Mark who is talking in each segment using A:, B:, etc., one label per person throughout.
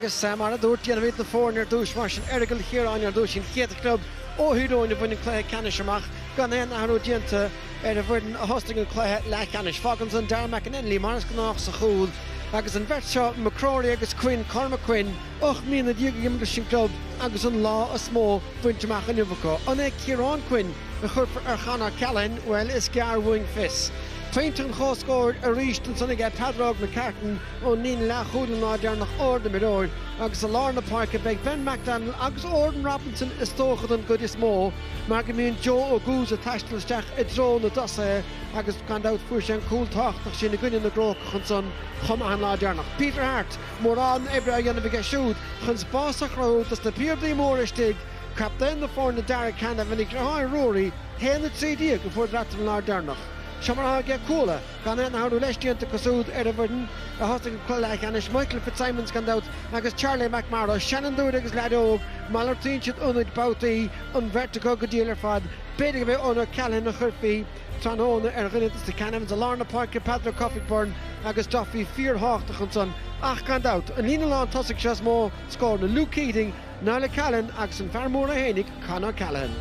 A: Agus mar a dúirt Diarmuid na foirne ar dtús mar sin, Aireagal Chiaráin ar dtús, an chéad chlub ó Thír Eoghain a bhain an cluiche ceannais amach, gan aon athrú déanta ar an bhfoireann a thosnaigh an cluiche leathcheannais. Fágann san Darragh McAnenly, mar is gnách, sa chúl agus an bheirt seo, McCrory agus Quinn, Cormac Quinn, ocht mbliana déag ag imirt leis an gclub agus an lá is mó bainte amach inniu acu. An é Ciarán Quinn a chuirfear ar Chon O'Callaghan? Bhuel, is gearr uainn fios. Pointe an chomhscóir arís ansan aige Peadar Óg McCartan, Ón líne leathchúil an lá deireanach, ardimreoir agus i lár na páirce beidh Ben McDonnell agus Odhran Robinson is dócha don gcuid is mó mar go mbíonn Joe Oguz ag taisteal isteach i dtreo na dtosaithe agus gan dabht fuair sé an cúl tábhachtach sin i gcoinne na gCrócach ansan chomh maith an lá deireanach. Peter Harte, mórán oibre á dhéanamh aige siúd chun spás a chruthú dos na piardaí móra istigh, captaen na foirne Darragh Canavan, a dheartháir Ruairí, haon a trí déag a fuaireadar an lá deireanach. Seo mar atá aige Cuala. Gan aon athrú leis, déanta acu súd, ar an bhfoireann a thosaigh an cluiche leathcheannais, Michael Fitzsimons, gan dabht, agus Charlie McMorrow, seanfhondúir agus leaid óg, malartaíonn siad ionaid babhtaí an bheirt acu go diail ar fad. B'fhéidir gurb é Eoghan O'Callaghan a chuirfí tráthnóna ar dhuine des na Canavans i lár na páirce, Peadar Ó Cofaigh Byrne agus Duffy fíorthábhachtach ansan, ach gan dabht, an líne lántosaigh seo is mó scóranna, Luke Keating, Niall O'Callaghan agus an fear mór é féinig, Con O'Callaghan.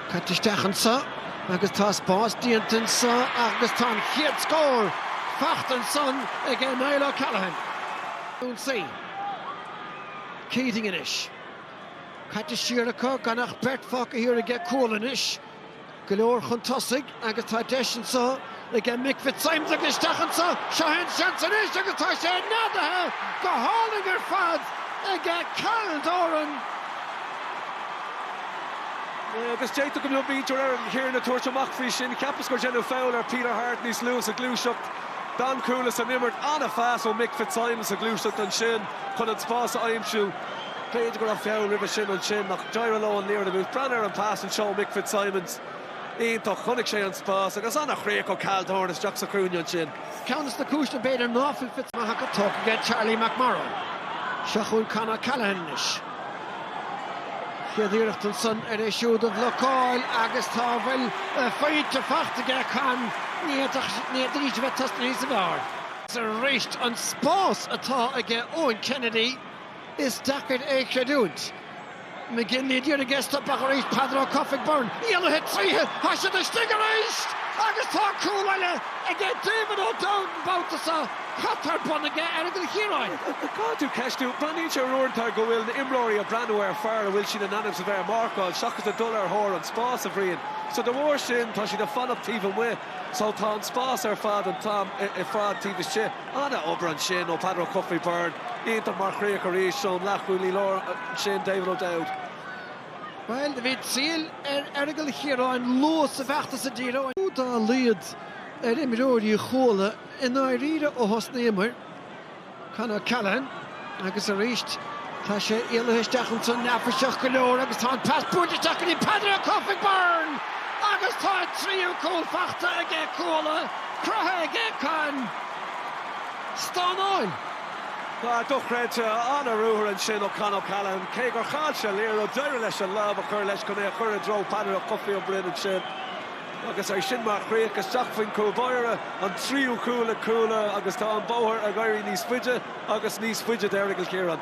A: Caite isteach anseo agus tá spás déanta anseo agus tá an chéad scór faighte ansan ag Niall O'Callaghan. Ionsaí Keating anois. Caite siar acu, gan ach beirt fágtha thiar aige Cuala anois. Go leor chun tosaigh agus tá deis anseo aige Mick Fitzsimons tugtha isteach anseo, seo é an seans anois agus tá sé neadaithe go hálainn ar fad aige Cal Doran. Agus d'fhéadfadh go mbeadh muintir Aireagal Chiaráin ag tabhairt amach faoi sin, cheapas gur deineadh foul ar Peter Harte níos luaithe sa ghluaiseacht. D'fhan Cuala san imirt, an-phas ó Mick Fitzsimons sa ghluaiseacht ansin chun an spás a aimsiú. B'fhéidir go raibh feall roimhe sin ansin ach d'éirigh leo an liathróid a bhualadh. Breathnaigh ar an pas anseo ó Mick Fitzsimons. Iontach. Chonaic sé an spás agus an-chríoch ó Cal Doran isteach sa chúinne ansin. Ceann de na cúiseanna b'fhéidir ná fuil Fitzmaghach go tugtha aige Charlie McMorrow. Seo chugainn Con O'Callaghan anois. Chéad iarracht ansan ar é siúd a bhlocáil agus tá a bhfuil faighte faighte aige Con, ní fhéadfadh siad arís a bheith tosnaithe níos fearr. Arís an spás atá aige Eoin Kennedy. Is deacair é a chreidiúint. McGinley ag iarraidh é a stopadh arís, Peadar Ó Cofaigh Byrne láithe tríthi, tá siad istigh arís! Agus tá cúl eile ag David O'Dowd an babhta seo, cad atá ar bun aige Aireagal Chiaráin. Caithfidh tú ceistiú. Breathnaíonn sé uaireanta go bhfuil na imreoirí ag breathnú ar an bhfear a bhfuil siad in ainm is a bheith ag marcáil seachas a dhul ar thóir an spáis, a Bhriain. So de bharr sin tá siad ag fanacht taobh amuigh so tá an spás ar fad an t-am ar fad taobh istigh. An-obair ansin ó Peadar Ó Cofaigh, Byrne iontach mar chríoch arís ón leathchúlaí láir ansin David O'Dowd. Bhuel, bhí bród ar Aireagal Chiaráin luath sa bhfeachtas sa díriú dá laghad ar imreoirí Chuala i ndáiríre ó thosnaíomar. Con O'Callaghan. Agus arís, tá sé ualaithe isteach ansan, neafaiseach go leor, agus tá an pas buailte isteach go dtí Peadar Ó Cofaigh, Byrne! Agus tá a thríú cúl faighte aige, Cuala, cruthaithe aige Con! Stánáil! Dochreidte, an-ruathar ansin ó Con O'Callaghan. Cé gur chaill sé an liathróid, d'éirigh leis an lámh a chur leis chun é a chur i dtreo Peadar Ó Cofaigh Ó Broin ansin. Agus é sin mar chríoch isteach faoin chúlbáire, an tríú cúl ag Cuala agus tá an bóthar ag éirí níos faide. agus níos faide d'Aireagal Chiaráin.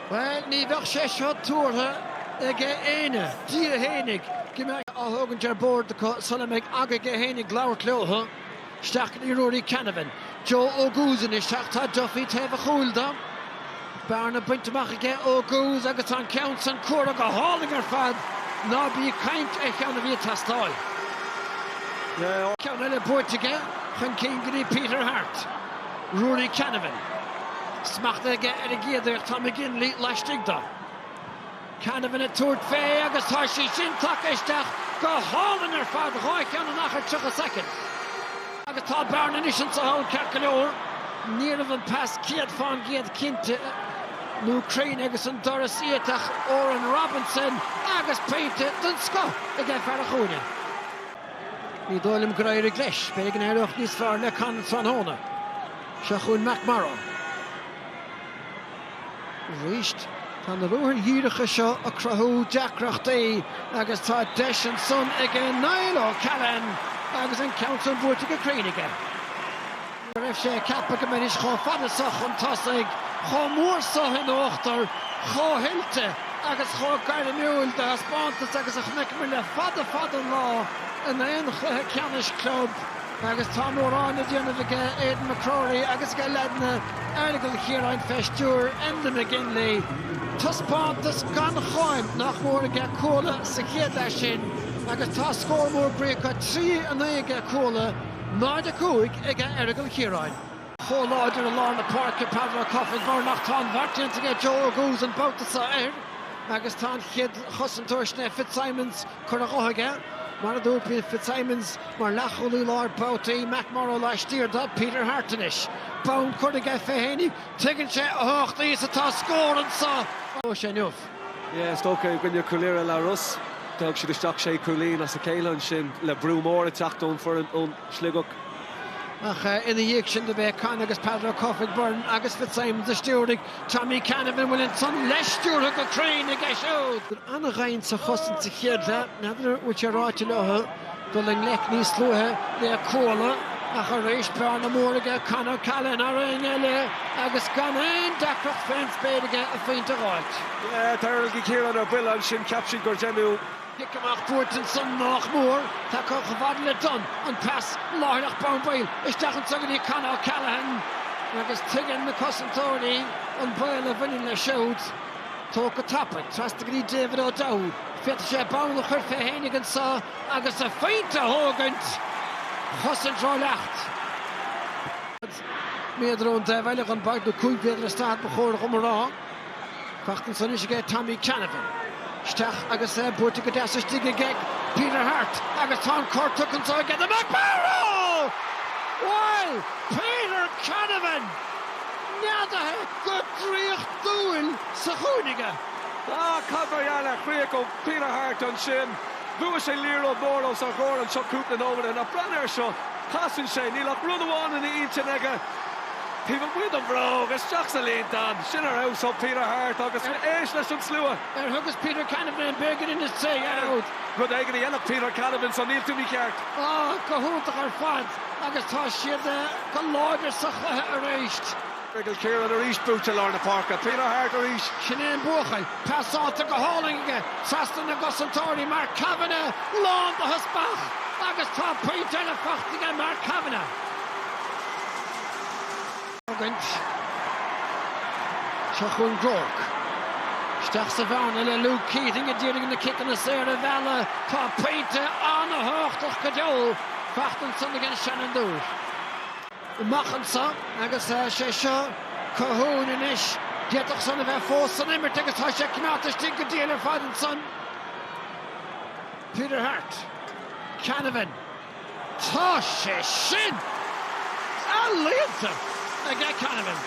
A: Bhuel, ní bheadh sé seo tuartha ag éinne, Dia fhéinig, go mbeadh sé tógtha ar bord acu sula mbeidh aige fhéinig labhairt leothu. Isteach go dtí Ruairí Canavan, Joe Oguz anois, ach tá Duffy taobh a chúil dó. Bearna bainte amach aige Oguz agus tá an ceann san curtha go hálainn ar fad, ná bí ag caint ar cheann a bhí ag teastáil. Ceann eile buaite aige, chun cinn go dtí Peter Harte. Ruairí Canavan. Smacht aige ar an gcéad iarracht, tá McGinley laistigh de. Canavan ag tabhairt faoi agus tá sé sin tagtha isteach go hálainn ar fad, dhá cheann in achar 30 soicind. Agus tá bearna anois ins a' pholl, ceart go leor. Níorbh an pas céad faoin gcéad cinnte nó cruinn agus an doras iata ach Odhrán Robinson agus pointe den scoth aige, fear an chúinne. Ní dóigh liom gur éirigh leis. Beidh aige in éirí níos fearr le Con tráthnóna. Seo chugainn McMorrow. Arís, tá na ruathair dhíreacha seo ag cruthú deacrachtaí agus tá deis ansan aige Niall O'Callaghan agus an ceann san buailte go cruinn aige. go raibh sé ag ceapadh go mbeidís chomh fada seo chun tosaigh, chomh mór seo in uachtar, chomh hoilte agus chomh gairmiúil de thaispeántas agus a chonaiceamar le fada fada an lá in aon chluiche ceannais club agus tá mórán le déanamh aige Aidan McCrory agus aige leaideanna Aireagail Chiaráin fé stiúir Enda McGinley. Taispeántas gan cháim nach mór aige Cuala sa chéad leath sin agus tá scór mór bríomhar, 3 9, aige Cuala. 0-5 aige Aireagal Chiaráin. chomh láidir i lár na páirce, Peadar Ó Cofaigh Byrne ach tá an bheart déanta aige Joe Oguz an babhta seo air agus tá an chéad chosantóir san Fitzsimons curtha dhe aige, mar a d'úilpigh Fitzsimons mar leathchúlaí láir babhtaí, McMorrow laistiar do Peter Harte anois, bonn curtha aige fé fhéinig, tuigeann sé a thábhachtaí is atá scór anseo agus tá sé inniu. Is dócha i gcoinne Chúil Irra, Leathros. D'fhág siad isteach sé chúilín as a chéile ansin le brú mór ag teacht ón foireann ón Sligeach. Ach ina dhiaidh sin do b'é Con agus Peadar Ó Cofaigh Byrne agus Fitzsimons a stiúraigh Tommy Canavan an bhfuil san leis stiúrtha go cruinn aige siúd. An-dhoimhin sa chosaint sa chéad leath. N'fheadar an bhfuil sé ráite leo. dul i ngleic níos luaithe le Cuala ach arís bearna mór aige Con O'Callaghan, thar éinne eile, agus gan aon deacracht fén spéir aige a phointe a dh'fháilt. Tá Aireagal Ciarán ar buile ansin, cheap siad gur deineadh. Cic amach buailte ansan nách mór, tagtha chomh fada le Dunne, an pas láithreach bonn baill isteach anso go dtí Con O'Callaghan agus tuigeann na cosantóirí an baol a bhaineann leis siúd. Tóg go tapaidh, trasna go dtí David O'Dowd, féadfaidh sé bonn a chur fé fhéinig anso, agus a phointe a thógaint, cosaint rólag. Daichead méadar ón dtaobh eile den bpáirc, nó cúig mhéadar is daichead ba chóir dhom a rá. Ag teacht anso anois aige Tommy Canavan. Isteach agus é buailte go deas istigh aige Peter Harte agus tá an cor tugtha anso aige do McMorrow! Bhuel, Peter Canavan! Neadaithe go draíochtúil sa chúinne aige. Á, cad mar gheall ar chríoch ó Peter Harte ansin! Bhuaigh sé liathróid mhór os ár gcomhair anseo cúpla nóiméad ó shin ach breathnaigh ar seo, casann sé, níl ach rud amháin ina intinn aige, taobh amuigh den bhróg, isteach sa líontán! Sin ar fheabhas ó Peter Harte agus éist leis an slua! Ar thugas Peter Canavan an bréagairín in is tréith ariamh? Rud éigin a dhéanfadh Peter Canavan so níl tú mícheart. Ah, go hiontach ar fad agus tá siad go láidir sa chluiche arís. Aireagal Ciarán arís, buaite i lár na páirce. Peter Harte arís. Sin é an buachaill. Pas sáite go hálainn aige trasna na gcosantóirí, Mark Kavanagh lán de theaspach agus tá pointe eile faighte aige, Mark Kavanagh. Tógaint. Seo chugainn Groarke. Isteach sa bhearna le Luke Keating a d'iarraidh na ciceanna saora a mhealladh. Tá pointe an-thábhachtach go deo faighte ansan ag an seanfhondúir. amach anso agus sé seo Colhoun anois. D'fhéadfadh san a bheith fós san imirt agus tá sé coimeádta istigh go diail ar fad ansan. Peter Harte, Canavan, tá sé sin ealaíonta aige Canavan!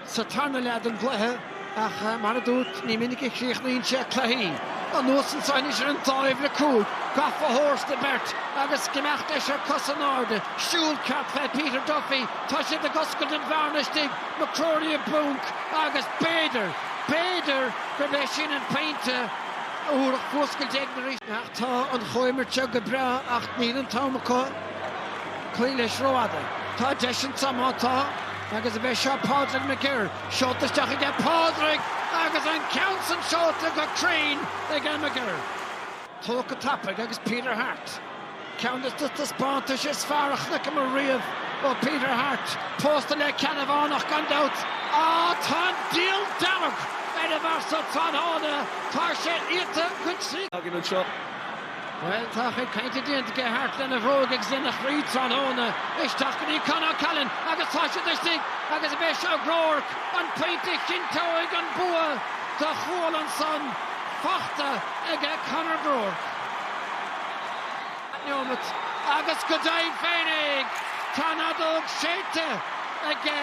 A: sa tarna leath den gcluiche ach mar a dúirt, ní minic a chríochnaíonn sé cluichí. Anuas anseo anois ar an dtaobh le Cuala, gafa thar an mbeirt agus ag imeacht leis ar cosa in airde, siúl ceart fé Peter Duffy, tá siad ag oscailt an bhearna istigh, McCrory i bponc agus b'fhéidir, b'fhéidir gurb é sin an pointe a thabharfadh fuascailt éigin arís. Tá an chomhimirt seo go breá ach níl an t-am acu. Cloí leis rófhada. Tá deis anseo má tá agus ab é seo Pádraig McGirr. Seolta isteach aige Pádraig agus an ceann san seolta go cruinn aige McGirr. Tógtha go tapaidh agus Peter Harte. Ceann des na taispeántais is fearr a chonaiceamar riamh ó Peter Harte. Pósta le Ceannabhánach gan dabht. Á, tá an diabhal dearg ar an bhfear so tráthnóna, tá sé iata go críoch. againn anseo. Bhuel, tá a chuid cainte déanta aige Harte lena bhróg agus lena chroí tráthnóna. Isteach go dtí Con O'Callaghan agus tá siad istigh agus ab é seo Groarke an pointe a chinnteoidh an bua do Chuala ansan. Fachta aige Conor Groarke. neomat agus go deimhin féinig tá an fheadóg séidte aige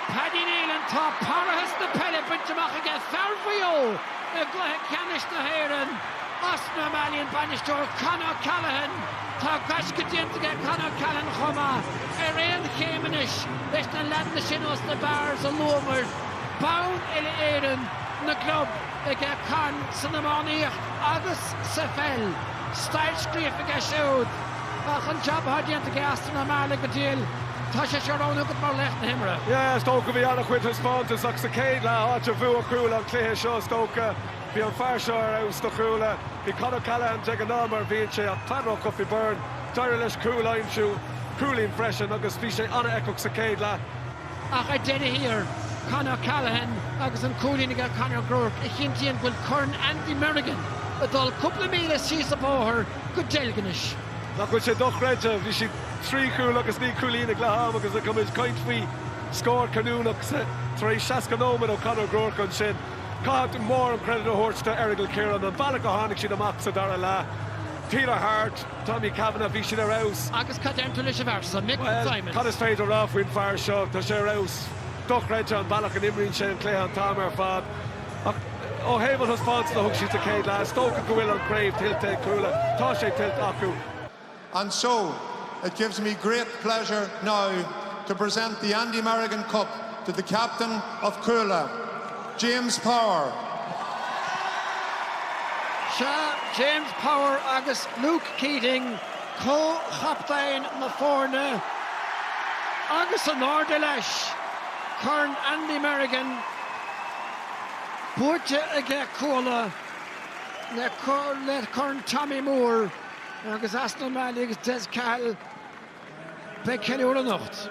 A: Paddy Neilan, tá parrathas na peile bainte amach aige fear Mhaigh Eo i gCluiche Ceannais na hÉireann. Austin O'Malley, an bainisteoir Con O'Callaghan. Tá gaisce déanta aige Con O'Callaghan chomh maith, ar aon chéim anois leis na leaideanna sin ó sna Barrs a luamar. Bonn uile-Éireann na gclub aige Con san iománaíocht agus sa pheil. Stair scríofa aige siúd. Ach an jab atá déanta aige Austin O'Malley go deimhin, tá sé seo roghnaithe agat mar laoch na himeartha. Yeah, is dócha go bhí an-chuid taispeántas ach sa chéad leath, áit a bhuaigh Cuala an cluiche seo, is dócha. Bhí an fear seo ar fheabhas do Chuala. Bhí Con O'Callaghan de ghnáth mar a bhíonn sé ach Peadar Ó Cofaigh Byrne, d'éirigh leis cúl a aimsiú, cúilín freisin, agus bhí sé an-fheiceach sa chéad leath. Ach ar deireadh thiar, Con O'Callaghan agus an cúilín aige Conor Groarke a chinntíonn go bhfuil Corn Andy Merrigan ag dul cúpla míle síos an bóthar go Deilginis. Nach bhfuil sé dochreidte? Bhí siad trí chúl agus naoi cúilín ag leath am agus tá muid ag caint faoi scór cinniúnach tar éis 60 nóiméad ó Conor Groarke ansin? Caithfidh muid an-chreidiúint a thabhairt do Errigal Ciarán. An bealach a tháinig siad amach sa dara leath, Peter Harte, Tommy Canavan, bhí siad ar fheabhas. Agus cad déarfá leis an bhfear san, Mick Fitzsimons? Bhuel, cad is féidir a rá faoin bhfear seo? Tá sé ar fheabhas. Dochreidte an bealach a n-imríonn sé an cluiche an t-am ar fad. Ach ó thaobh an thaispeántas a thug siad sa chéad leath, is dócha go bhfuil an chraobh tuillte ag Cuala. Tá sé tuillte acu. And so, it gives me great pleasure now to present the Andy Merrigan Cup to the Captain of Cuala, James Power. Sea, James Power agus Luke Keating, comh-chaptaein na foirne, agus in airde leis, Corn Andy Merrigan buaite aige Cuala le Corn Tommy Moore. agus Austin O'Malley agus Des Cahill beidh ceiliúradh anocht.